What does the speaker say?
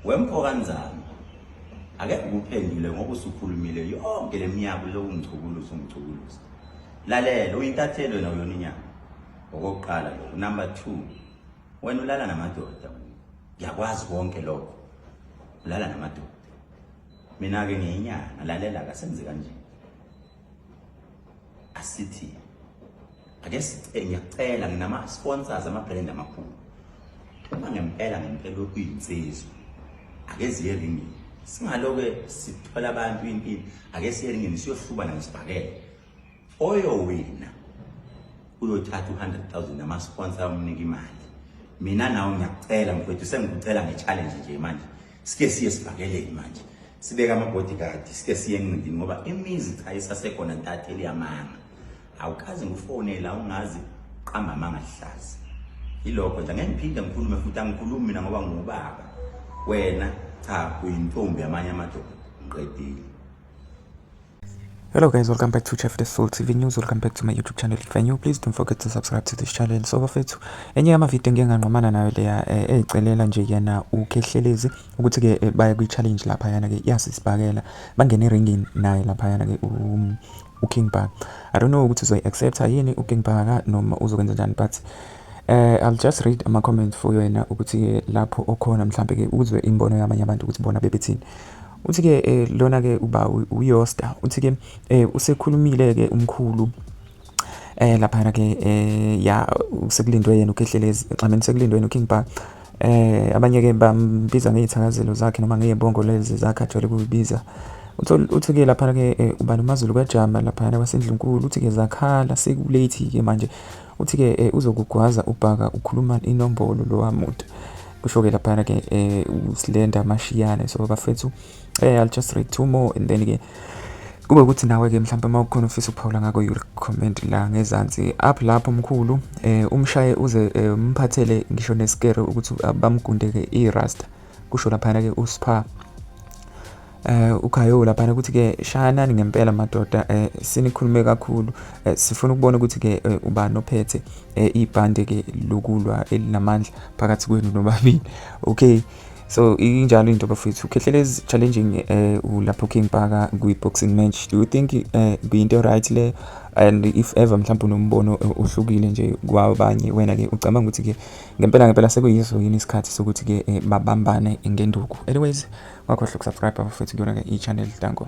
Wemfokanzana ake ukuphendule ngoba usukhulumile yonke leminyaka lokhu ngichukuluza ungichukuluza lalela uyintathelo wena uyona inyama okokuqala lokho number 2 wena ulala namadoda ngiyakwazi konke lokho ulala namadoda mina ke ngiyinyanga lalela kasenze kanjani asithi ake sicela ngiyacela nginama sponsors ama brand amakhulu uma ngempela ngempela kuyinsizwa ake ziye ringini singaloke sithola abantu impilo ake siye ringini siyohlubana ngesibhakela oyowina uyothatha u-100000 ama sponsor amnika imali mina nawe ngiyacela mfowethu sengikucela nge challenge nje manje sike siye sivakeleni manje sibeka ama-bodyguard sike siye enqindini ngoba imizi cha isasekhona ntatha eliyamanga awukazi ngufonela ungazi qamba amanga lihlaza yilokho nje angeke ngiphinde ngikhulume futhi angikhulumi mina ngoba ngubaba wena cha uyintombi yamanye amadoda ngiqedile Hello guys, welcome back to Chef the Soul TV News. Welcome back to my YouTube channel. If you're new, please don't forget to subscribe to this channel. So bafethu, enye yama video ngeke nganqomana nayo leya eh, ezicelela nje yena ukhehlelezi ukuthi ke eh, baya kwi challenge lapha yana ke yasisibhakela. Bangene ringini naye lapha yana ke um, u King Bhaka. I don't know ukuthi uzoyi accept yini u King Bhaka noma uzokwenza njani but eh I'll just read ama comments for yena ukuthi lapho okhona mhlambe ke uzwe imbono yamanye abantu ukuthi bona bebethini. Uthi-ke eh, lona-ke uba uyosta uthi-ke eh, usekhulumile-ke umkhulu eh laphana ke eh ya sekulindwe yena ukhehlelezi xameni sekulindwe yena uking bar eh abanye ke bambiza ngezithakazelo zakhe noma ngeyebongo lezi zakhe ajwayele kuyibiza uthi ke lapha ke eh, uba nomazulu kajama lapha kwasendlunkulu uthi ke zakhala sekulate ke manje uthi ke eh, uzokugwaza ubhaka ukhuluma inombolo lowa muntu kusho ke laphana ke eh, usilenda mashiyane so bafethu eh, i'll just read two more and then ke kube ukuthi nawe ke mhlawumbe uma ukhona ufisa ukuphawula ngako you comment la ngezansi up lapho mkhulu eh umshaye uze eh, umphathele ngisho neskere ukuthi bamgundeke irasta kusho laphana ke uspha eh ukhayo laphana ukuthi ke shayanani ngempela madoda eh sinikhulume kakhulu eh, sifuna ukubona ukuthi ke eh, ubani ophethe eh, ibhande ke lokulwa elinamandla phakathi kwenu nobabili okay so injalo into bafethu ukhehlelezi challenging eh ulapho king paka kwi boxing match do you think eh kuyinto right le and if ever mhlawumbe unombono eh, ohlukile nje kwabanye wena ke ucabanga ukuthi ke ngempela ngempela sekuyiso yini isikhathi sokuthi ke eh, babambane ngenduku anyways wakhohlwa ukusubscribe bafethu kuyona ke i-channel danko